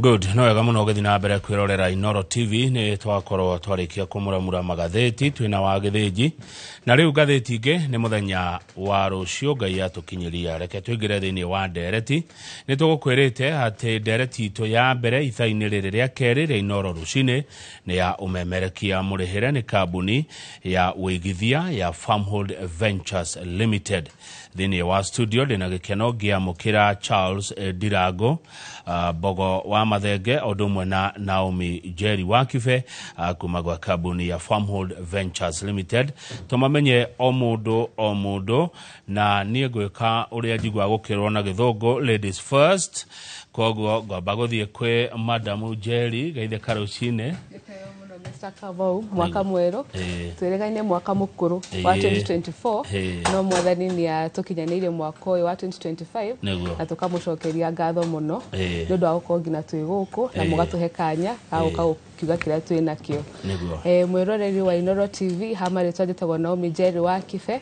good no wega muno githii na mbere kwirorera inoro tv ni twakorwo twarikia kumuramura magatheti twina wa githiji na riu gatheti ingi ni muthenya wa rucio ngai atukinyiria reke twingire thiini wa ndereti ni tugukwirite ati ndereti itu ya mbere ithaini riri ria keri ria inoro rucini nĩ ya ũmemerekia mũrĩhĩre nĩ kambuni ya wĩigithia ya Farmhold Ventures Limited. Thĩinĩ wa studio ndĩna gĩkeno ngĩamũkĩra Charles Ndirango uh, Mbogo wa Mathenge ũndũ ũmwe na Naomi Njeri wa Kibe uh, kuma gwa kambuni ya Farmhold Ventures Limited. Tũmamenye o mũndũ o mũndũ na niä ngwä ka å rä a njigua gå kä rwo na gä thångå ladies first koguo ngwamba gå thiä kwä madamu jeri gaithä ka rå cinä Gĩtĩo mũno Mr. Kamau, mwaka mwerũ Ĩĩ. twĩrĩgaine mwaka mũkũrũ wa Ĩĩ. 2024 Ĩĩ. no mwathani nĩ atũkinyanĩirie mwaka ũyũ wa 2025 Nĩguo. na tũkamũcokeria ngatho mũno Ĩĩ. nĩ ũndũ wa gũkorwo nginya twĩ gũkũ na Ĩĩ. mũgatũhe kanya ga gũka gũkiuga kĩrĩa twĩ nakĩo Nĩguo. Eh, mwĩroreri wa inoro tv ha marĩtwa njĩtagwo naomi njeri wa kibe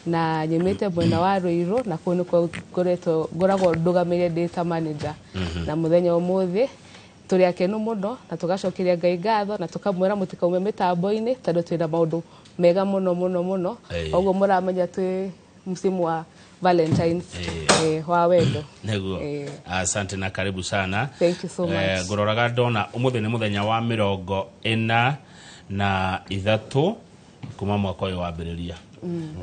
na nyumĩte mwena wa Rũirũ na kũu nĩkuo ngoretwo ngoragwo ndũgamĩire ndĩ ta manager na mũthenya ũmũthĩ tũrĩ akenu mũno na tũgacokeria Ngai ngatho na tũkamwĩra mũtikaume mĩtambo-inĩ tondũ twĩna maũndũ mega mũno mũno mũno Ĩĩ. koguo mũramenya twĩ msimu wa Valentine's eh, wa wendo Nĩguo. Eh. Asante na karibu sana. Thank you so much. Eh, ngũroraga ndona ũmũthĩ nĩ mũthenya wa mĩrongo ĩna na ithatũ kuma mwaka ũyũ wambĩrĩria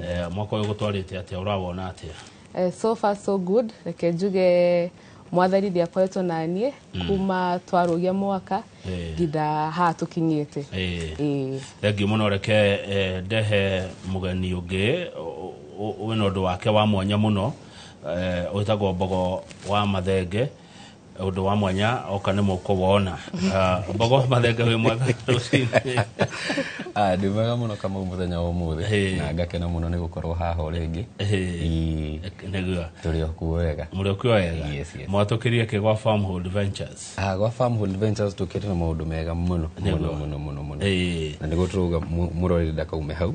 Eh, mwaka ũyũ gũtwarĩte atĩa ũrawona atĩa Eh, so far so good reke njuge mwathani nĩ akoretwo na niĩ kuma twarũgia mwaka Eh. nginya haha tũkinyĩte Eh. Eh. thengiũ mũno reke eh, ndehe mũgeni ũngĩ ũ- ũ- wĩna ũndũ wake wa mwanya mũno eh, wĩtagwo mbogo wa mathenge ũndũ wa mwanya oka nĩ mũkũ wona Ah, mbogo mathenga wĩ mwega rũcinĩ Ah, ndĩ mwega mũno kama mũthenya wa ũmũthĩ Hey. na ngakena mũno nĩ gũkorwo haha o rĩngĩ Hey. Ii, nĩguo tũrĩ okuo wega mũrĩ ũkio wega Yes, yes. mwatũkĩria kĩ gwa farmhold ventures Ah, gwa farmhold ventures tũkĩte na maũndũ mega mũno mũno mũno mũno mũno Eh, na nĩguo tũrauga mũ- mũrori ndakaume hau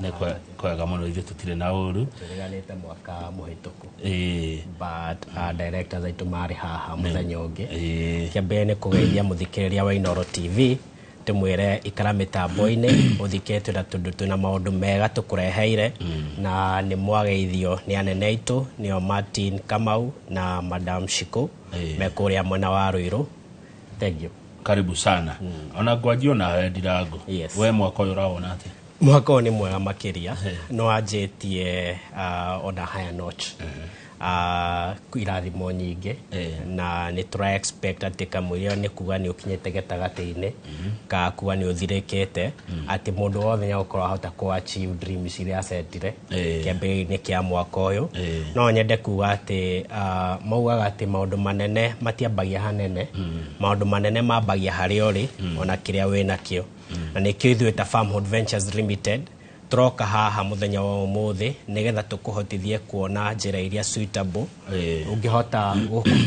nä kwega må no ithuä tå tirä na å ru tũreganĩte mwaka mũhĩtũku Ĩĩ, but uh, directors aitũ marĩ haha mũthenya ũngĩ ĩĩ. kĩa mbere nĩ kũgeithia mũthikĩrĩria wa inoro tv tũmwĩre ikara mĩtambo-inĩ ũthikĩre twĩna tũndũ twĩna maũndũ mega tũkũreheire na nĩ mwageithio nĩ anene aitũ nĩo martin kamau na madam shiko Ĩĩ. me kũrĩa mwena wa rũirũ thank you karibu sana ona ngwanjia ona we ndirango Yes. we mwaka ũyũ ũrawona atĩa mwaka ũyũ nĩ mwega makĩria no anjĩtie uh, on a higher note uh, kwĩ irathimo nyingĩ Eh. na nĩ tũra expect atĩ kamũiria nĩ kuga nĩ ũkinyĩte gatagatĩ-inĩ ka kuga nĩ ũthirĩkĩte atĩ mũndũ wothe nĩ agũkorwo ahota kũ achieve dreams iria acetire Eh. kĩambĩrĩria-inĩ kĩa mwaka ũyũ Eh. no nyende kuga atĩ ah, maugaga atĩ maũndũ manene matiambagia hanene maũndũ manene mambagia harĩa ũrĩ ona kĩrĩa wĩ nakĩo na nĩkĩo ithuĩ ta Farmhood Ventures Limited tũroka haha mũthenya wa ũmũthĩ nĩgetha tũkũhotithie kuona njĩra iria suitable Eh. ũngĩhota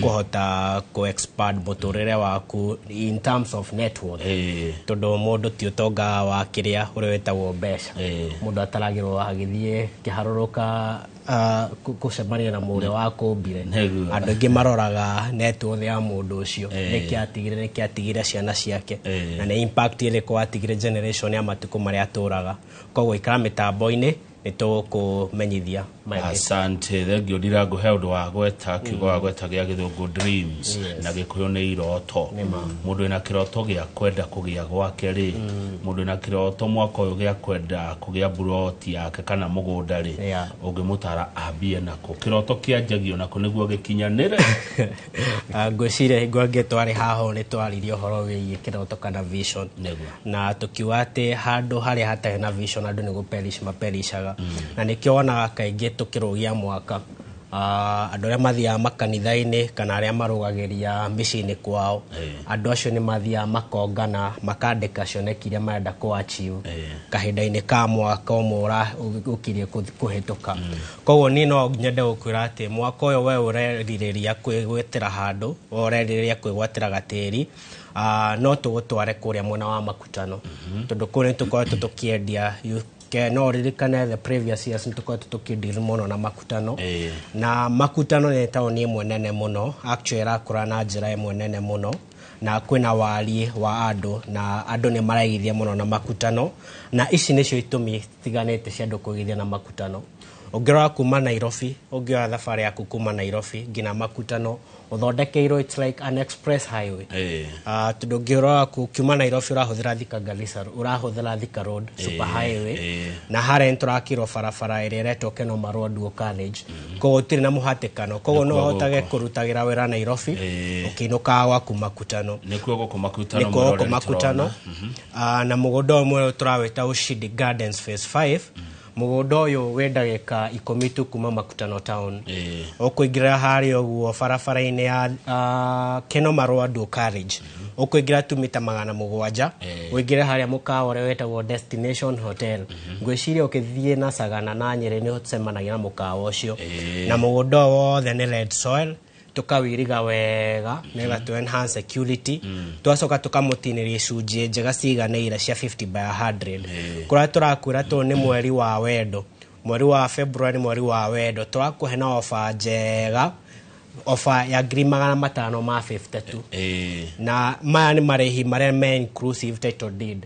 kũhota ku expand mũtũrĩre waku in terms of net worth Eh. tondũ mũndũ ti ũtonga wa kĩrĩa ũrĩa wĩtagwo mbeca Eh. mũndũ ataragĩrwo agĩthiĩ kĩharũrũka ah, kũ- kũcemania na mũrĩa wa kũmbire Nĩguo. andũ aingĩ maroraga net worth ya mũndũ ũcio nĩkĩ atigire nĩkĩ atigire ciana ciake Eh. na nĩ impact ĩrĩkũ atigire generation ya matukũ marĩa atũraga koguo ikara mĩtambo-inĩ nĩ tũkũmenyithia maingĩ. Asante, thengio ndirangu he ũndũ wa gweta kiugo wa gweta gĩa gĩthũngũ dreams Yes. na gĩkũyũ nĩ iroto mũndũ wĩna kĩroto gĩa kwenda kũgĩa gwake rĩ mũndũ wĩna kĩroto mwaka ũyũ gĩa kwenda kũgĩa mburoti yake kana mũgũnda rĩ Yeah. ũngĩmũtara ambie nako kĩroto kĩanjagio nako nĩguo gĩkinyanĩre Ah, ngwĩciria hingo angĩ twarĩ haha ũũ nĩ twaririe ũhoro wĩgiĩ kĩroto kana vision nĩguo na tũkiuga atĩ handũ harĩa hatarĩ na vision andũ nĩ gũperish maperishaga mm. na nĩkĩo wonaga kaingĩ tũkĩrũgia mwaka uh, andũ arĩa mathiaga makanitha-inĩ kana arĩa marũgagĩria mĩciĩ-inĩ kwao hey. andũ acio nĩ mathiaga makongana makandĩka cioneki iria marenda kũachiu hey. kahinda-inĩ ka mwaka ũmwe ũkirie kũhĩtũka mm. koguo niĩ no nyende gũkwĩra atĩ mwaka ũyũ we ũrerirĩria kwĩgwetera handũ ũrerirĩria kwĩgwatĩra gatĩri uh, no tũgũtware kũrĩa mwena wa makutano mhm. tondũ kũu nĩ tũkoretwo tũkĩendia ke no ririkane the previous years nĩ tũkoretwo tũkĩndiri mũno na makutano eh. na makutano nĩ taũni ĩmwe nene mũno actually ĩrakũra na njĩra ĩmwe nene mũno na kwĩna wariĩ wa andũ na andũ nĩ maraigithia mũno na makutano na ici nĩcio itũmi tiganĩte cia andũ kũigithia na makutano ũngĩrora kuma nairobi ũngĩoya thabarĩ yaku kuma nairobi nginya makutano ũthondekeirwo it's like an express highway Eh. Ah, tondũ ngĩũrora ku- kiuma nairobi ũrahũthĩra thika garissa ũrahũthĩra thika road super highway eh. na harĩa nĩtũrakirwo barabara ĩrĩa ĩretwo kenoma road wo college koguo ũtirĩ na mũhatĩkano koguo no Nĩkuo ũhotage gũkũ. kũrutagĩra wĩra nairobi Eh. ũkĩinũkaga gwaku makutano nĩkuo gũkũ makutano nĩkuo mũrore gũkũ nĩtũrona. makutano Ah, na mũgũnda ũmwe ũyũ tũrawĩta ushindi gardens phase 5 mũgũnda ũyũ wĩ ndagĩka ikũmi tu kuma makutano town Eh. ũkũingĩra harĩa ũguo barabara-inĩ ya uh, keno marũa ndũ carriage ũkũingĩra tu mita magana mũgwanja Eh. ũingĩre harĩa mũkawa ũrĩa wetagwo destination hotel ngwĩciria ũkĩthiĩ na sagana na nyerĩ nĩ ũcemanagia na mũkawa ũcio Eh. na mũgũnda ũyũ wothe nĩ red soil tũkawĩriga wega nĩgetha tũ enhance security twacoka tũkamũtinĩria icunjĩ njega ciganĩire cia 50 by 100 kũrĩa tũrakwĩra tũ nĩ mweri wa wendo mweri wa february nĩ mweri wa wendo tũrakũhe na ofa njega ofa ya ngiri magana matano ma 50 tu Eh, na maya nĩ marĩhi marĩa me inclusive title deed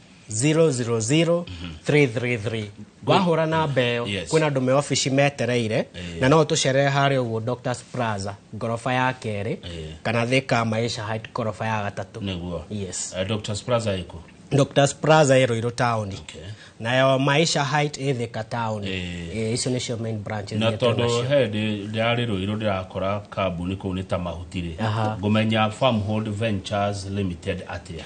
000333 wahũra namba ĩyo Yes. kwĩna andũ me obici metereire na no tũcerere harĩa ũguo doctors plaza ngoroba ya kerĩ kana thika maisha height ngoroba ya gatatũ nĩguo yes Eh, doctors plaza ĩkũ doctors plaza ĩ rũirũ taũni Okay. nayo maisha height ĩ thika taũni Eh. Eh, icio nĩcio main branches na iria twĩ tondå nacio. he ndärä rå irå ndä rakora kambuni kå u nä ta mahutirä Aha. ngå menya farmhold ventures limited atä a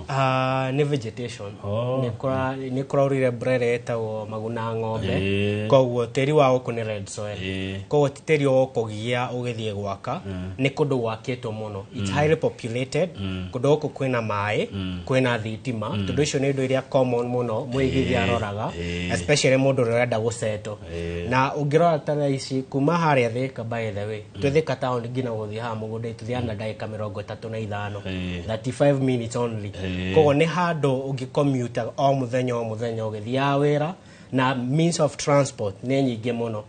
Ah, nĩ vegetation Oh. Nĩ kũra- nĩ kũraurire mbura ĩrĩa ĩtagwo maguna ng'ombe Eh. koguo tĩri wa gũkũ nĩ red soil Eh. koguo ti tĩri wa kũgia ũgĩthiĩ gwaka nĩ kũndũ gwakĩtwo mũno It's highly populated kũndũ gũkũ kwĩna maĩ kwĩna thitima tondũ icio nĩ indo iria common mũno mũigithia Eh. aroraga Eh. especially mũndũ ũrĩa ũrenda gũceto Eh. na ũngĩrora ta thaa ici kuma harĩa thĩka by the way twethika taoni nginya gũthiĩ haha mũgũnda itũthiaga na ndagĩka mĩrongo ĩtatũ na ithano Eh. 35 minutes only Eh. koguo nĩ handũ ũngĩkommuta o mũthenya o mũthenya ũgĩthiaga wĩra na means of transport nĩ nyingĩ mũno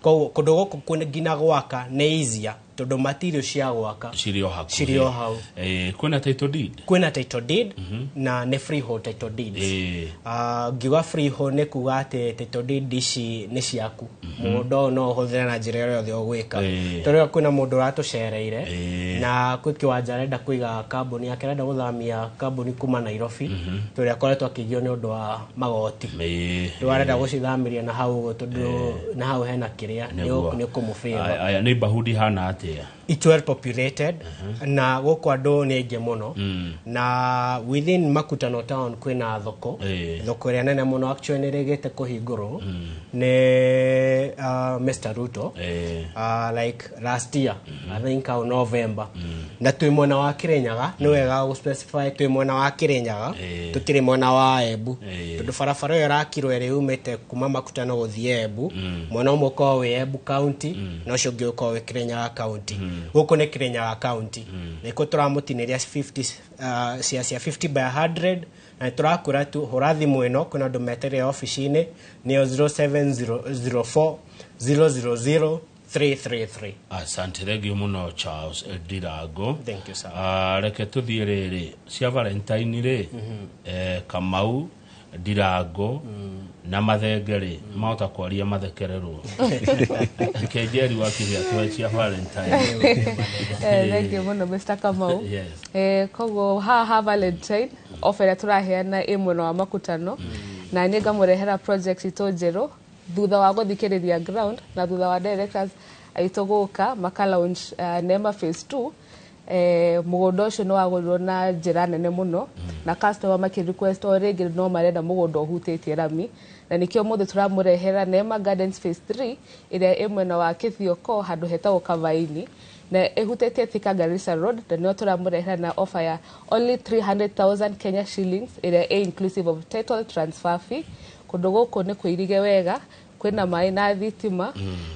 koguo kũndũ gũkũ kwĩ- nginya gwaka nĩ easier tondũ material cia gwaka cirĩ o hakuhĩ cirĩ o hau Eh, kwĩna title deed kwĩna title deed na nĩ freehold title deeds Eh. Ah, ngiuga freehold nĩ kuga atĩ title deed ici nĩ ciaku mũgũnda ũyũ no ũhũthĩre na njĩra ĩrĩa yothe ũgwĩka Ĩĩ. ta rĩu kwĩna mũndũ ũratũcereire Ĩĩ. na kwĩ kĩwanja arenda kũiga kambuni yake arenda gũthamia kambuni kuma nairobi tondũ ũrĩa akoretwo akĩgio nĩ ũndũ wa magoti Ĩĩ. rĩu arenda gũcithamĩria na hau ũguo tondũ na hau hena kĩrĩa Nĩguo. nĩ kũmũbĩra Aya- aya neighborhood ihana atĩa it's well populated na gũkũ andũ nĩ aingĩ mũno na within makutano town kwĩna thoko Eh. thoko ĩrĩa nene mũno actually nĩ rĩgĩte kũhingũrwo nĩ uh, mr ruto Eh. uh, like last year i think au november na twĩ mwena wa kĩrĩnyaga nĩ wega gũspecify twĩ mwena wa kĩrĩnyaga Eh. tũtirĩ mwena wa embu Eh. tondũ barabara ĩyo ĩrakirwo ĩrĩ umĩte kuma makutano gũthiĩ embu mwena ũmwe ũkoragwo wĩ embu county na ũcio ũngĩ ũkorwo wĩ kirenya wa kaunti gũkũ nĩ kirenya wa kaunti na ikuo tũramũtinĩria 50 ah, cia cia 50 by 100 na tũrakwĩra tu hũra thimũ ĩno kwĩna andũ meterere obici-inĩ nĩyo 0704 000 333 asante thengio muno charles ndirango Thank you, sir. Ah, reke tå thiä rä rä cia valentine rä eh, kamau ndirango na mathenge-rĩ mahota kwaria mathekererwo kenjeri wa kĩhĩa tũhe cia valentine Eh, thank you muno mr kamau Yes. Eh, koguo haha valentine ofa ĩrĩa tũraheana ĩ mwena wa makutano na niĩ ngamũrehera project itũ njerũ thutha wa gũthikĩrĩria ground na thutha wa directors aitũ gũka maka launch uh, nema phase 2 eh, mũgũnda ũcio nĩ wagũrirwo na njĩra nene mũno na customer makĩ request o rĩngĩ no marenda mũgũnda ũhutĩtie rami na nĩkĩo mũthĩ tũramũrehera Neema Gardens phase 3 ĩrĩa ĩ mwena wa Kĩthioko handũ hetagwo Kavaini na ĩhutĩtie Thika Garissa Road na nĩo tũramũrehera na offer ya only 300,000 Kenya shillings ĩrĩa ĩ inclusive of title transfer fee kũndũ gũkũ nĩ kũirige wega kwĩna maĩ na thitima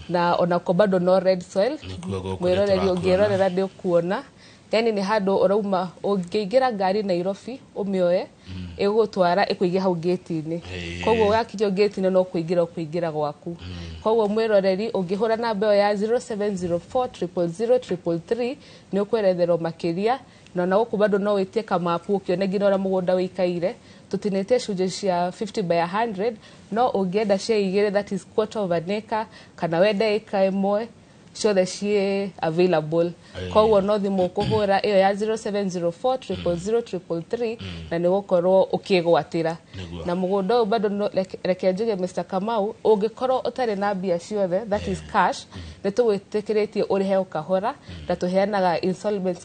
na onako bado no red soil Nĩkuo gũkũ mwĩroreri nĩtũrakuona. ũngĩrorera nĩ ũkuona yani nĩ handũ ũrauma ũngĩingĩra ngari nairobi ũmĩoe ĩgũtwara ĩkũige hau ngĩti-inĩ Ĩĩ. koguo wakinya ngĩti-inĩ no kũingĩra ũkũingĩra gwaku koguo mwĩroreri ũngĩhũra namba ĩyo ya 0704 000 333 nĩ ũkweretherwo makĩria Na ona gũkũ bado no wĩtie kamapu ũkĩone nginya ũrĩa mũgũnda wĩikaire. Tũtinĩtie icunjĩ cia 50 by 100 no ũngĩenda cia igĩrĩ that is quarter of an acre kana wende ĩka ĩmwe ciothe ciĩ available koguo no thimũ ũkũhũra ĩyo ya 0704 triple 333 na nĩ gũkorwo ũkĩgwatĩra Nĩguo. na mũgũnda ũyũ bado no- reke- reke njuge Mr Kamau ũngĩkorwo ũtarĩ na mbia ciothe that is cash nĩ tũgwĩtĩkĩrĩtie ũrĩhe o kahora na tũheanaga installments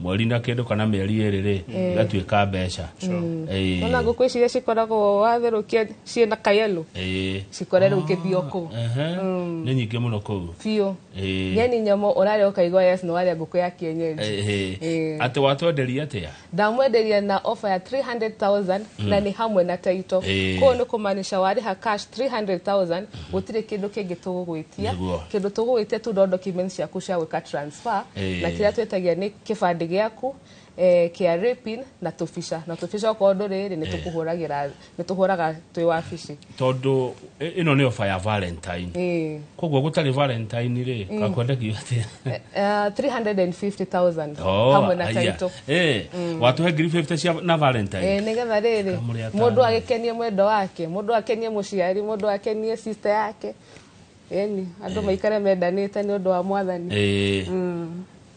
mweri na kĩndũ kana mĩeri ĩrĩ rĩ Eh. igatuĩka mbeca Ĩĩ. ona ngũkũ ici iria cikoragwo watherũkia ciĩ na kayelo Ĩĩ. cikore rĩu kĩthio kũu Ehe. nĩ nyingĩ mũno kũu biũ Ĩĩ. nyeni nyamũ ũrarĩa ũkaigua yes nĩ warĩa ngũkũ ya kienyeji Ĩĩ. Ĩĩ. atĩ watwenderia atĩa ndamwenderia na ofa ya 300000 Mm. na nĩ hamwe na taito Ĩĩ. kũu nĩ kũmaanisha warĩha cash 300000 gũtirĩ kĩndũ kĩngĩ tũgũgwĩtia Nĩguo. kĩndũ tũgũgwĩtia tu no documents ciaku cia gwĩka transfer Eh. na kĩrĩa twĩtagia nĩ kĩbandĩ gĩaku eh, kĩa rĩpin na tũbica na tũbica okorwo ndũrĩ rĩ nĩ tũkũhũragĩra nĩ tũhũraga twĩ wabici tondå ä no nä oba ya valentine Eh. koguo gå tarä valentine rä gakwendekio atä Eh, eh, 350,000 Oh, hamwe na aya. taito Eh, watuhe ngiri 50 cia na valentine Eh, nĩgetha rĩrĩ Kamũrĩa mũndũ tano. agĩkenie mwendo wake mũndũ akenie mũciari mũndũ akenie sister yake yani andũ maikare mendanĩte nĩ ũndũ wa mwathani Eh,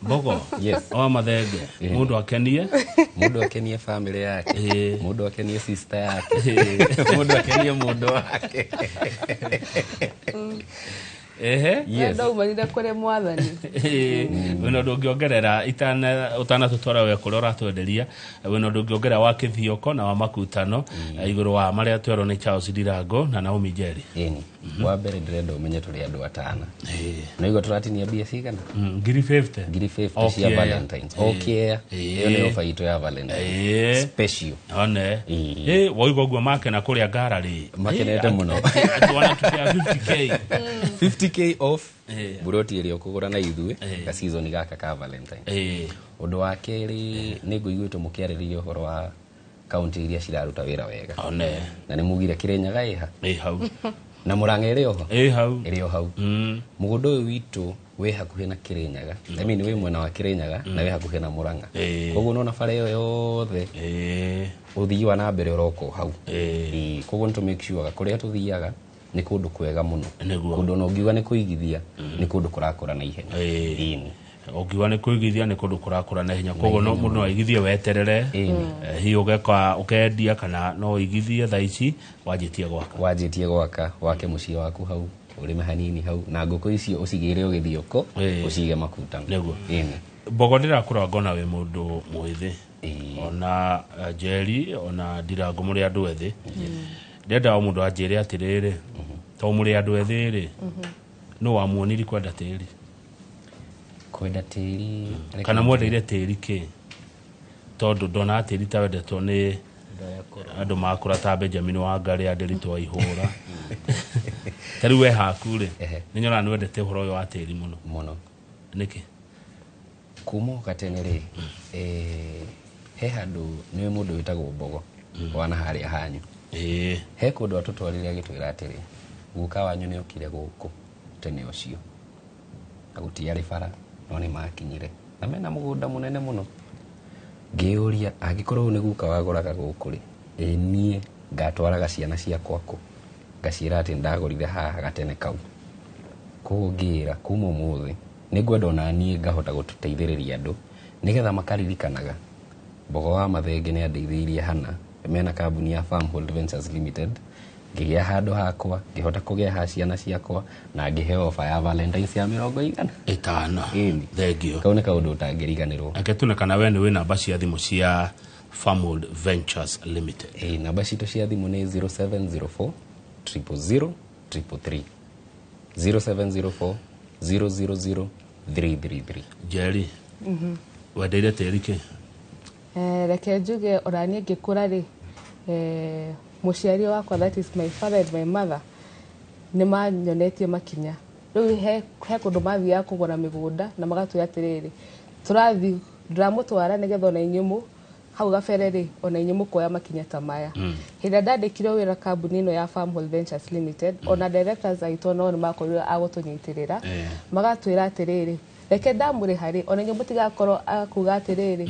mbogo Yes. oa mathenge mundu akenie mundu akenie family yake Eh. mundu akenie sister yake mundu akenie mundu wake ehe Yes. ndaumanire kũrĩ mwathani wena ũndũ ũngĩongerera itana- ũtanatũtwara we kũrĩa ũratwenderia wena ũndũ ũngĩongerera wa kĩthioko na wa makutano eh, igũrũ wa marĩa twerwo nĩ charles ndirango na naomi njeri Ĩni. wa mbere ndĩrenda ũmenye tũrĩ andũ atana na igua tũratinia mbia cigana Mm, ngiri 50 ngiri 50 cia Okĩea. valentines okea Ĩĩ. ĩyo nĩ ofa itũ ya valentines Eh. special one ä waigua guo make na kå rä a ngara rä Makenete mũno. wanatupea 50k 50k off Eh. buroti ĩrĩa ũkũgũra na ithuĩ Eh. ga season gaka ka valentine Eh, ũndũ wa kerĩ nĩ ngũiguĩte mũkĩarĩrĩria ũhoro wa kaunti iria ciraruta wĩra wega one na nĩ mugire kĩrĩnyaga ĩha ä hau na mũrang'a ĩrĩ oho ä hau ĩrĩ o hau Mm. mũgũnda ũyũ witũ wĩ hakuhĩ na Kĩrĩnyaga I mean wĩ mwena wa Kĩrĩnyaga na wĩ hakuhĩ na Mũrang'a Eh. koguo nona bara ĩyo yothe Eh, ũthii wa na mbere ũroka o hau Eh. Ĩĩ, koguo nĩ tũ make sure ga kũrĩa tũthiaga nĩ kũndũ kwega mũno Nĩguo. kũndũ ona ũngiuga nĩ kũigithia nĩ kũndũ kũrakũra na ihenya Eh. Ĩĩni. ũngiuga nĩ kwĩgithia nĩ kũndũ kũrakũra na hinya koguo no mũndũ no aigithie weterere Ĩĩni. Eh, hihi ũgeka ũkendia kana no ũigithie thaa ici wanjĩtie gwaka wanjĩtie gwaka wake mũciĩ waku hau ũrĩme hanini hau na ngũkũ icio ũcigĩre ũgĩthiũkũ Ĩĩ. ũcige makuta Nĩguo. Ĩni. mbogo ndĩrakũra ngona wĩ mũndũ mwĩthĩ Ĩĩ. ona eh, njeri ona ndirangũ mũrĩ andũ ethĩ ndendaga mũndũ anjĩre atĩrĩrĩ to mũrĩ andũ ethĩ rĩ nũ wamuoniri kwenda tĩri kwenda tĩri kana mwendeire tĩri kĩ tondũ ndonaga tĩri ta wendetwo nĩ andũ makũra ta benjamin wangarĩ anderitwo aihũra ta rĩu we haku rĩ Ehe. nĩ nyonaga nĩ wendete ũhoro ũyũ wa tĩri mũno mũno nĩkĩ kuma o gatene rĩ eh, he handũ nĩ mũndũ wĩtagwo mbogo wana harĩa hanyu ĩĩ he kũndũ atũtwarire agĩtwĩra atĩrĩ guka wanyu nĩ okire gũkũ tene ũcio na gũtiarĩ bara no nĩ makinyire na mena mũgũnda mũnene mũno ngĩyũria angĩkorwo ũyũ nĩ guka wagũraga gũkũ rĩ ĩ niĩ ngatwaraga ciana ciakwa kũ ngaciĩra atĩ ndagũrire haha gatene kau koguo ngĩra kuma ũmũthĩ nĩ ngwenda ona niĩ ngahota gũteithĩrĩria andũ nĩgetha makaririkanaga mbogo wa mathenge nĩ andeithĩirie hana mena kambuni ya Farmhold Ventures Limited ngĩgĩa handũ hakwa ngĩhota kũgĩa ha ciana ciakwa na ngĩheo oba ya valentines ya mĩrongo igana ĩtano Ĩni. thengio kau nĩ kaũndũ ũtangĩriganĩrwo reke tuone kana we nĩ wĩ namba cia thimũ cia Farmold Ventures Limited Ĩĩ, namba citũ cia thimũ nĩ 0704 000 333 0704 000 333 Jerry wendeire tĩri kĩ Eh, reke njuge ona niĩ ngĩkũra rĩ eh, mũciari wakwa that is my father and my mother nĩ manyonetie makinya rĩu he he kũndũ mathiaga kũgũra mĩgũnda na magatwĩra atĩrĩrĩ tũrathiĩ ndĩramũtwara nĩgetha ona inyuĩ mũ hau gabere rĩ ona inyuĩ mũkoya makinya ta maya hĩndĩ ĩrĩa ndandĩkire wĩra kambuni ĩno ya Farm Hold Ventures Limited ona directors aitũ nao nĩ makorirwo a gũtũnyitĩrĩra Eh. magatwĩra atĩrĩrĩ reke ndamũrĩha rĩ ona inyuĩ mũtigakorwo a kuga atĩrĩrĩ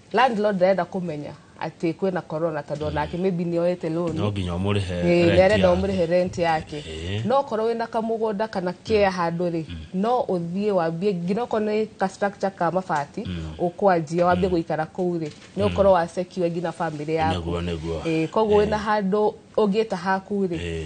landlord ndarenda kũmenya atĩ kwĩna corona tondũ onake maybe nĩ oete loan no nginya ũmũrĩhe Ĩĩ, rent nĩarenda yake. ũmũrĩhe rent yake Ĩĩ. no okorwo wĩna kamũgũnda kana kea handũ rĩ no ũthiĩ wambie nginya okorwo nĩ ka structure ka mabati ũkwanjia wambie gũikara kũu rĩ nĩ ũkorwo wa secure nginya family yaku Nĩguo, nĩguo. Ĩĩ, koguo Ĩĩ. wĩna handũ ũngĩta haku rĩ Ĩĩ.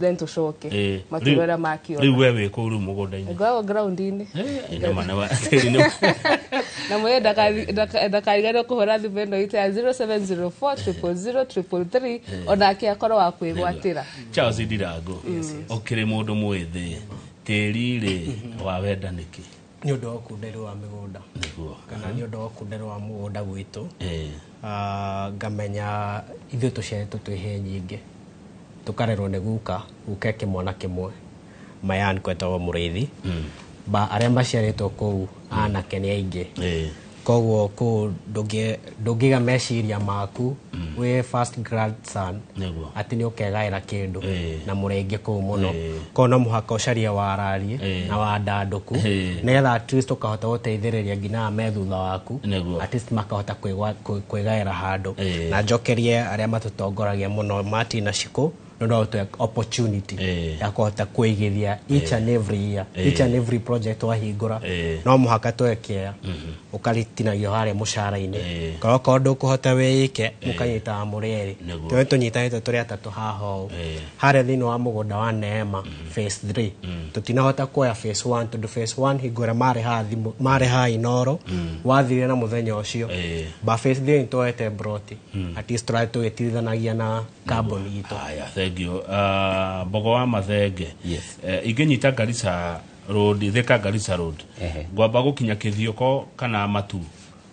then tũcoke Eh, makĩrora rĩu- rĩu makĩona we wĩ kũu rĩu mũgũnda-inĩ ngoragwo ground-inĩ Eh, nĩ mana wa tĩri nĩ- na mwene ndakariganwo kũhũra thimũ ĩno itũ ya 0704003333 onake akorwo wa kwĩgwatĩra charles ndirango ũkĩrĩ mũndũ mwĩthĩ tĩri rĩ wawenda nĩkĩ nĩ ũndũ wa ũkunderu wa mĩgũnda nĩguo kana nĩ ũndũ wa ũkunderu wa mũgũnda gwitũ Eh, Ah, ngamenya ithuĩ tũciaretwo twĩ he nyingĩ tũkarerwo nĩ guka guka eke mwana kĩmwe mayan kwetagwo mũrĩithi ba arĩa maciarĩtwo kũu anake nĩ aingĩ eh, koguo kũu ndũngĩ- ndũngĩga meciria maku wĩ first grandson Nĩguo. atĩ nĩ ũkegaĩra kĩndũ Eh. na mũrenge kũu mũno Eh. ko no mũhaka ũcarie warariĩ Eh. na wandandũku Eh. nĩgetha at least ũkahota gũteithĩrĩria nginya aya me thutha waku Nĩguo. at least makahota kwĩgwa- kwĩ- kwĩgaĩra handũ Eh. na njokerie arĩa matũtongoragia mũno martin na cikũ no ndahote opportunity Eh. ya kũhota kwĩigithia each and every year each and every project wahingũra Eh. no mũhaka twekea ũkaritinagio harĩa mũcara-inĩ Eh. korwo korwo ndũkũhota wĩike mũkanyitaga mũrĩ erĩ Nĩguo. tũrĩa tũnyitanĩte tũrĩ atatũ haha ũũ Eh. harĩa thĩinĩ wa mũgũnda wa neema phase 3 tũtinahota kuoya phase 1 tondũ phase 1 hingo ĩrĩa marĩ haha thimũ- marĩ haha inoro wathire na mũthenya ũcio Eh. ba phase 3 nĩtwoete broti at least tũrarĩ tũgĩtirithanagia na kambuni itũ haya thank you Ah, mbogo wa mathenge Yes. Eh, ingĩnyita ngarisa road theka ngarisa road Ehe. ngwamba gũkinya kĩthiũko kana matu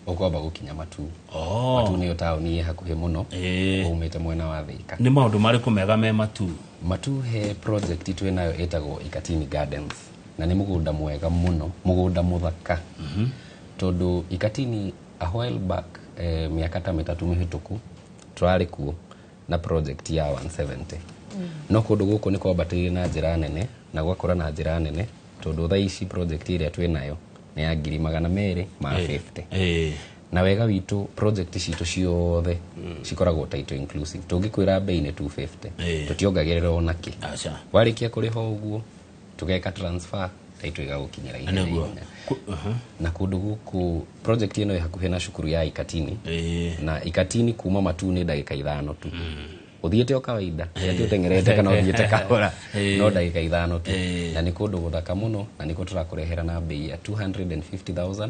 ũkwamba gũkinya matu oh. matu nĩyo taũni ĩ hakuhĩ mũno Eh. umĩte mwena wa thĩka nĩ maũndũ marĩkũ mega me matu matu he project twĩ nayo ĩtagwo ikatini gardens na nĩ mũgũnda mwega mũno mũgũnda mũthaka tondũ ikatini a while back eh, mĩaka ta mĩtatũ mĩhĩtũku tũrarĩ kuo na project ya 170 no kũndũ gũkũ nĩ kwambatĩire na njĩra nene na gwakũra na njĩra nene tondũ thaa ici project ĩrĩa twĩ nayo nĩ ya ngiri magana merĩ ma 50 Eh, na wega witũ project citũ ciothe cikoragwo title inclusive tũngĩkwĩra bei nĩ 250 Eh. tũtiongagĩrĩra ona kĩ aca warĩkia kũrĩha ũguo tũgeka transfer taitũ ĩgagũkinyĩra ihenya Nĩguo. ihenya. Ku- aha. na kũndũ gũkũ project ĩno ĩ hakuhĩ na cukuru ya ikatini Eh, na ikatini kuma matu nĩ ndagĩka ithano tu ũthiĩte o kawaida ati ũtengerete kana ũthiĩte kahora Eh. no ndagĩka ithano tu Eh. na nĩ kũndũ gũthaka mũno na nĩkuo tũrakũrehera na mbei ya 250000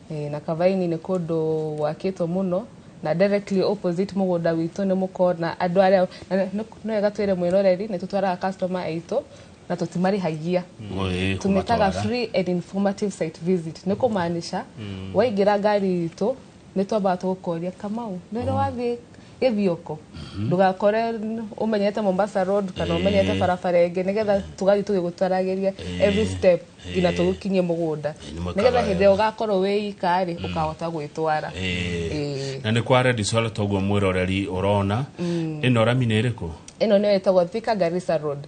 Ĩĩ, na Kavaini nĩ kũndũ gwakĩtwo mũno na directly opposite mũgũnda witũ nĩ mũkona andũ arĩa na nĩ- nĩ nĩ wega twĩre mwĩroreri nĩ tũtwaraga customer aitũ na tũtimarĩhagia Ĩĩ, tumĩtaga kũmatwara. free and informative site visit nĩ kũmaanisha waingĩra ngari itũ nĩ twambaga tũgũkoria kamau nĩ ũrĩ wathiĩ gĩthioko ndũgakore n- ũmenyete mombasa road kana ũmenyete barabara ĩngĩ nĩgetha tũgathiĩ tũgĩgũtaragĩria every step nginya Eh. tũgũkinyie mũgũnda Eh, nĩ nĩgetha mũkawa hĩndĩ ĩrĩa wega. ũgakorwo wĩ ika rĩ ũkahota gwĩtwara Eh. Eh. na nä kwa redisol toguo mwä roreri å rona ä no rami nä ä rä kå ĩno nĩyo ĩtagwo thika garissa road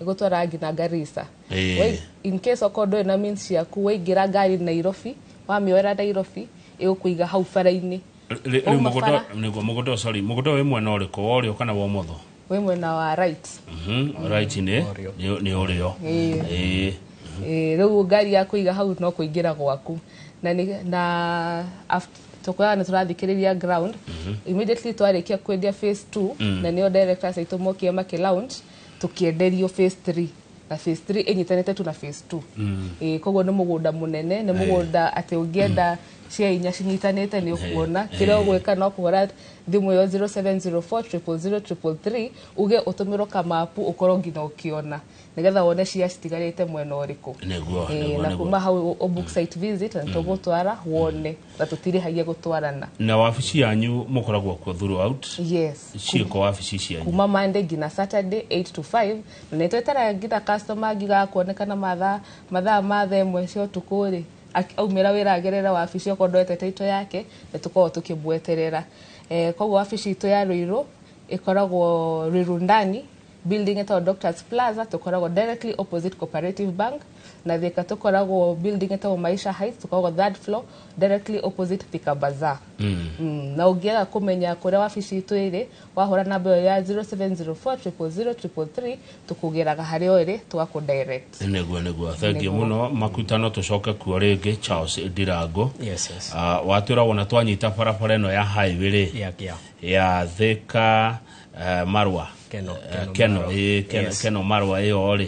ĩgũtwara nginya garissa Eh. Wai- in case okorwo ndũrĩ na means ciaku waingĩra ngari nairobi wamĩoera nairobi ĩgũkũiga hau bara-inĩ Rĩ- Wauma rĩu mũgũnda bara. nĩguo mũgũnda sorry mũgũnda wĩ mwena ũrĩkũ wa ũrĩo kana wa ũmotho wĩ mwena wa right Mhm, right nĩ Ũrĩo. nĩ nĩ ũrĩo Ĩĩ. Ĩĩ. Eh, rĩu ngari ya kũiga hau no kũingĩra gwaku na nĩ- na tũkoragwo nĩ tũrathikĩrĩria ground immediately twarĩkia kwendia phase two na nĩo directors aitũ mokire makĩ launch tũkĩenderio phase three na phase 3 ĩnyitanĩte tu na phase 2 mm. e, koguo nĩ mũgũnda mũnene nĩ mũgũnda atĩ ũngĩenda cia inya cinyitanĩte nĩ ũkuona kĩrĩa ũgwĩka no kũhũra thimũ ĩyo 0704000333 uge ũtũmĩrwo kamapu ũkorwo nginya ũkĩona nĩgetha wone cia citigarĩte mwena ũrĩkũ Nĩguo, Eh, nĩguo, na nĩguo. kuma hau ũ book site visit na tũgũtwara wone na tũtirĩhagia gũtwarana na wabici yanyu mũkoragwo kuo throughout yes ciĩko wabici cianyu kuma monday nginya saturday 8 to 5 Na nĩ tweterere ngitha customer angĩgaga kuonekana mathaa mathaa ma thaa ĩmwe cia ũtukũ rĩ, ak- aumĩra wĩra agerere wabici okorwo ndoete title yake, nĩ tũkoragwo tũkĩmweterera. Eh, koguo wabici itũ ya Ruiru ĩkoragwo Ruiru ndani, building ĩtagwo Doctors Plaza, tũkoragwo directly opposite Cooperative Bank, na Thika tũkoragwo building ĩtagwo Maisha Heights, tũkoragwo third floor, directly opposite Thika Bazaar. Mm, na ũngĩaga kũmenya kũrĩa wabici itũ ĩrĩ, wahũra namba ĩyo ya 0704000333 tũkũgeraga harĩa o ĩrĩ tũgakũ direct nĩguo nĩguo thengiũ mũno makuta no tũcoke kuo rĩngĩ charles ndirango Yes, yes. Ah, watwĩra wona twanyita barabara ĩno ya highway rĩ Yeah, yeah. ya thika eh, marwa Keno, Eh, Keno keno Marwa. ĩ, Ken- Yes. keno marwa ĩyo rĩ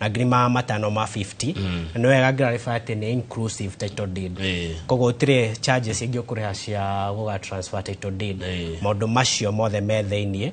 na ngiri ma matano ma 50 na nĩ wega ngĩrarĩba atĩ nĩ inclusive title deed Eh. koguo ũtirĩ charges ingĩ ũkũrĩha cia gũga transfer title deed Eh. maũndũ macio mothe me thĩiniĩ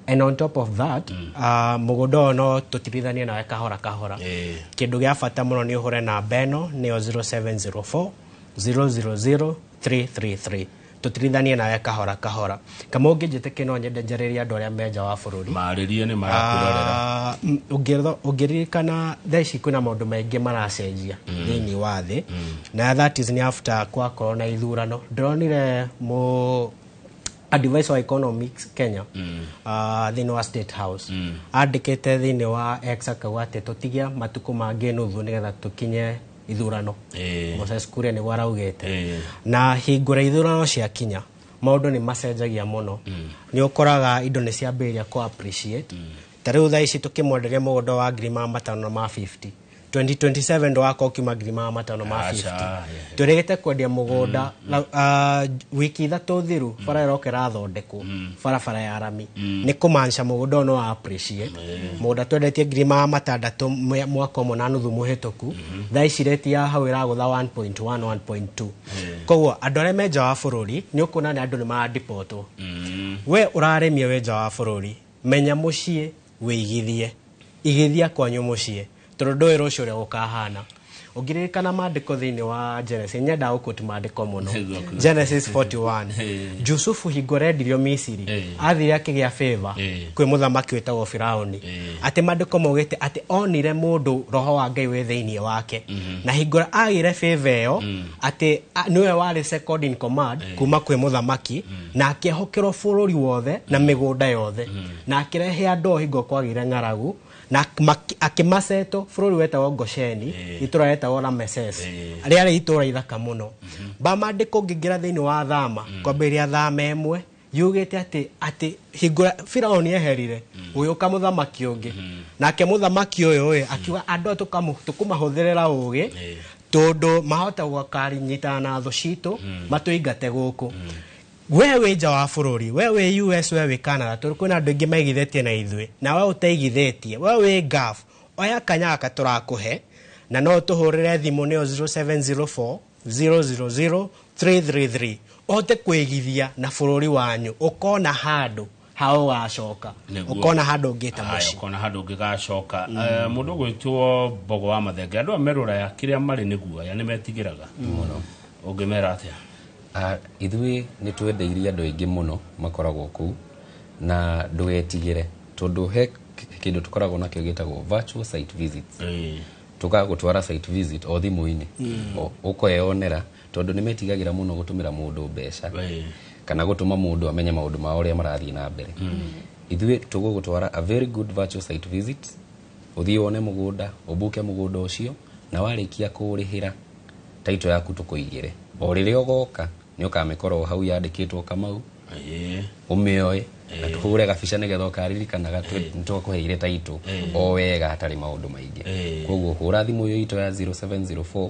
and on top of that ah, mũgũnda ũyũ no tũtirithanie nawe kahora kahora Eh. kĩndũ gĩa bata mũno nĩ ũhũre namba ĩno nĩyo 0704 000 333 tũtirithanie nawe kahora kahora kama ũngĩnjĩtĩkĩ no nyende njarĩrie andũ arĩa me nja wa bũrũri marĩrie nĩ marakwĩrorera Ah, m- ũngĩrtho- ũngĩririkana thaa ici kwĩna maũndũ maingĩ maracenjia thĩinĩ wa thĩ na that is nĩ after kwakorwo na ithurano ndĩronire mũ advisor wa economics kenya ah, thĩinĩ wa state house andĩkĩte thĩinĩ wa ex akauga atĩ tũtige matukũ mangĩ nuthu nĩgetha tũkinye ithurano Eh. Moses Kuria nĩguo araugĩte Eh. na hingo rĩa ithurano ciakinya maũndũ nĩ macenjagia mũno nĩ ũkoraga indo nĩ ciambĩrĩria kũ appreciate ta rĩu thaa ici tũkĩmwenderia mũgũnda wa ngiri ma matano na ma 50 2027 ndwaka ũkiuma ngiri ma matano ma Aca, 50 yeah. tũrĩgĩte kwendia mũgũnda na, ah, wiki ithatũ thiru bara ĩroka ĩrathondekwo barabara ya rami nĩ kũmanca mũgũnda ũyũ no appreciate mũgũnda twendetie ngiri ma matandatũ mwe- mwaka ũmwe na nuthu mũhĩtũku thaa ici reti ya hau ĩragũtha 1.1 1.2 koguo andũ arĩa me nja wa bũrũri nĩ ũkuona nĩ andũ nĩ marandipotwo we ũraremia wĩ nja wa bũrũri menya mũciĩ wĩigithie igithia kwanyu mũciĩ Tondũ ndũĩ rũciũ ũrĩa gũkahana. Ũngĩririkana maandĩko thĩinĩ wa Genesis, nyendaga gũkoti maandĩko mũno. Genesis 41. Jusufu hingo rendirio Misiri, athire akĩgĩa favor kwĩ mũthamaki wĩtagwo Firauni. Atĩ maandĩko maugĩte atĩ onire mũndũ roho wa Ngai wĩ thĩinĩ wake. Na hingo ĩrĩa agĩire favor ĩyo, atĩ a- nĩwe warĩ second in command kuma kwĩ mũthamaki, na akĩehokerwo bũrũri wothe na mĩgũnda yothe. Na akĩrehe andũ o hingo kwagĩire ng'aragu, na mak- akĩmaceto bũrũri wetagwo gosheni itũra retagwo rameses rĩarĩ itũra ithaka mũno bamandĩka ũngĩingĩra thĩinĩ wa thama kwambĩrĩria thama ĩmwe yugĩte atĩ atĩ hingũra firaoni eherire gũgĩũka mũthamaki ũngĩ nake mũthamaki ũyũ ũyũ akiuga andũ aya tũkamũ- tũkũmahũthĩrĩra ũgĩ tondũ mahota gwakarinyitana na thũ citũ matũingate gũkũ We wĩ nja wa bũrũri, we wĩ US, we wĩ Canada, tondũ kwĩna andũ aingĩ maigithĩtie na ithuĩ, na we ũtaigithĩtie, we wĩ Gulf, oya kanya gaka tũrakũhe, na no ũtũhũrĩre thimũ nĩyo 0704 000 333, ũhote kwĩigithia na bũrũri wanyu, ũkona handũ ha ũgacoka Nĩguo. ũkona handũ ũngĩta Aya, mũciĩ ũkona handå ngä gacoka må ndå gwä two mbogo wa mathenge andå a meroraya kä rä a marä nä guoya nä metigä raga å ngä mera atä Ah, ithuĩ nĩ twendeirie andũ aingĩ mũno makoragwo kũu na ndũgetigĩre tondũ he k- kĩndũ tũkoragwo nakĩo gĩtagwo virtual site visits tũgagũtwara site visit o thimũ-inĩ O- ũkeyonera tondũ nĩ metigagĩra mũno gũtũmĩra mũndũ mbeca kana gũtũma mũndũ amenye maũndũ mao ũrĩa marathiĩ na mbere ithuĩ tũgũgũtwara a very good virtual site visit ũthiĩ wone mũgũnda ũbuke mũgũnda ũcio na warĩkia kũũrĩhĩra taito yaku tũkũigĩre o rĩrĩa ũgoka nĩ ũkamĩkora o hau yandĩkĩtwo kamau ũmĩoe na tũhũre gabica nĩgetha ũkaririkanaga nĩ twakũheire taito o wega hatarĩ maũndũ maingĩ kwoguo hũra thimũ ĩyo itũ ya 0704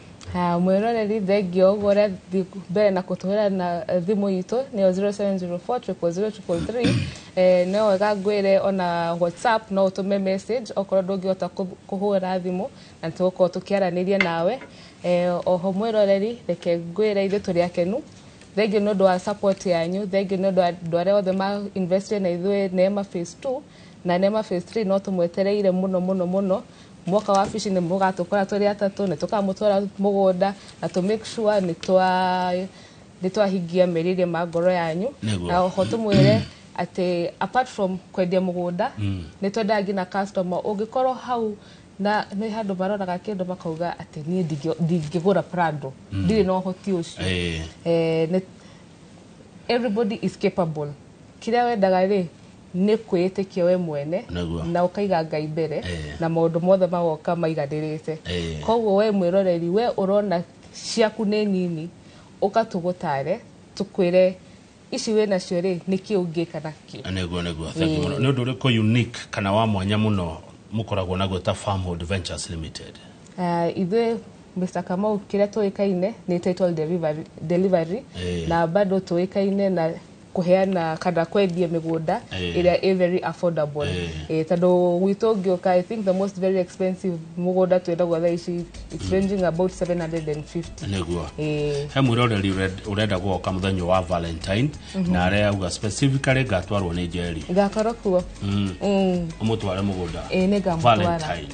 Haya, mwĩroreri thengio ũguo ũrĩa thiĩ mbere na kũtũhĩra na eh, thimũ itũ nĩyo 0704 eh, no wega ngwĩre ona whatsapp no ũtũme message okorwo ndũngĩhota kũ- kũhũra thimũ na tũgũkorwo tũkĩaranĩria nawe eh, oho mwĩroreri reke ngwĩre ithuĩ tũrĩ akenu thengio nĩ ũndũ wa support yanyu thengio nĩ ũndũ wa andũ arĩa othe ma invested na ithuĩ neema phase 2 Na nema phase 3 no tumwetereire muno muno muno mwoka wa fishi ni mugatukora turi atatu ni tukamutwara mugunda na to make sure ni twa ni twahingia meriria ma ngoro yanyu Nĩguo. na oho tumwire ati apart from kwendia mugunda ni twendaga ngina customer ungikorwo hau na ni handu maroraga kindu makauga ati nie ndingĩ- ndingĩgura prado ndirĩ na ũhoti ũcio Eh, eh, nĩ- everybody is capable kĩrĩa wendaga rĩ Nĩ kwĩĩtĩkia we mwene Nĩguo. na ũkaiga Ngai mbere Ĩĩ. na maũndũ mothe magoka maiganĩrĩte. Ĩĩ. Koguo we mwĩroreri we ũrona ciaku nĩ nini ũka tũgũtare tũkwĩre ici wĩ nacio rĩ nĩkĩ ũngĩka nakĩ. nĩguo nĩguo thank you mũno nĩ ũndũ ũrĩkũ unique kana wa mwanya mũno mũkoragwo naguo ta farmhold ventures limited Ah, ithuĩ Mr. Kamau kĩrĩa tũĩkaine nĩ title delivery, delivery Ĩĩ. na bado tũĩkaine na kũheana kana kwendia mĩgũnda Eh. ĩrĩa ĩ very affordable Eh. Eh, tondũ gwitũ ũngĩũka i think the most very expensive mũgũnda twendagwo thaa ici it's ranging about 750 nĩguo Eh, he mwiroreri ũre- ũrenda gwoka mũthenya wa valentine na arĩa auga specifically ngatwarwo nĩ njeri ngakorwo kuo Mm, ũmũtware mũgũnda ĩ nĩ ngamũtwara Valentine.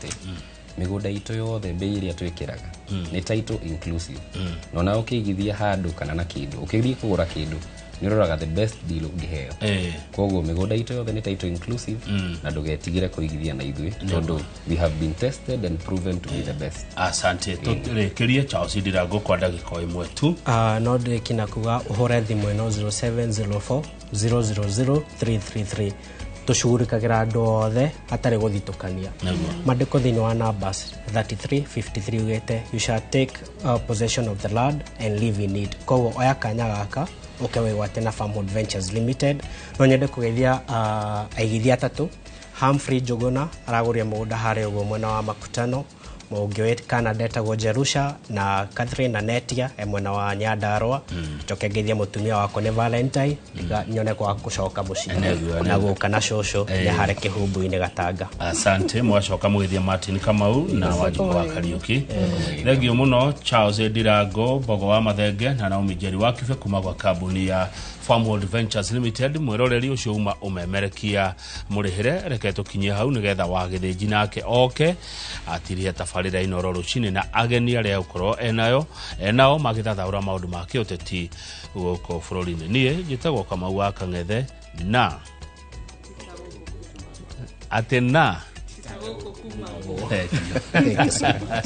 atĩ mĩgũnda itũ yothe mbei ĩrĩa twĩkĩraga nĩ title inclusive na ona ũkĩigithia handũ kana na kĩndũ ũkĩthiĩ kũgũra kĩndũ nĩ ũroraga the best deal ũngĩheo Eh, koguo mĩgũnda itũ yothe nĩ title inclusive na ndũgetigĩre kũigithia na ithuĩ tondũ we have been tested and proven to be the best asante tũrĩkĩrie charles ndirango kwa ndagĩka o ĩmwe tu Ah, no ndĩkina kuga ũhũre thimũ ĩno 0704 000 333 tũcugurĩkagĩra andũ othe hatarĩ gũthitũkania mandĩko thĩinĩ wa numbers 33 53 ugĩte you shall take uh, possession of the land and live in it koguo oya kanya gaka ũke wĩgwate na farmwood ventures limited no nyende kũgeithia uh, aigithia atatũ Humphrey Njũgũna aragũrire mũgũnda harĩa ũguo mwena wa Makutano mũhungi wĩ canada etagwo jerusha na catherine na netia e mwena wa nyandarwa njoke ngeithie mũtumia wakwa nĩ valentine ndiga- nyone kwa gũcoka mũciĩ Nĩguo, na nĩguo. gũka na cũcũ nĩ harĩ kĩhumbu-inĩ gatanga asante mwacoka mwithia martin kamau na wanjiko wa kariuki thengio muno charles ndirango mbogo wa mathenge na naomi njeri wa kibe kuma gwa kambuni ya farmworld ventures limited mwiroreri ucio uma umemerekia mũrĩhĩre reke tũkinyie hau nĩgetha wa gĩthĩnji nake oke atirĩhe tabarĩra ino ro rũcinĩ na ageni arĩa gũkorwo enayo enao magĩthathaũra maũndũ ma kĩũteti gũkũ bũrũri-inĩ niĩ njĩtagwo kamau wa kang'ethe na atĩ na Eh, Thank you so much.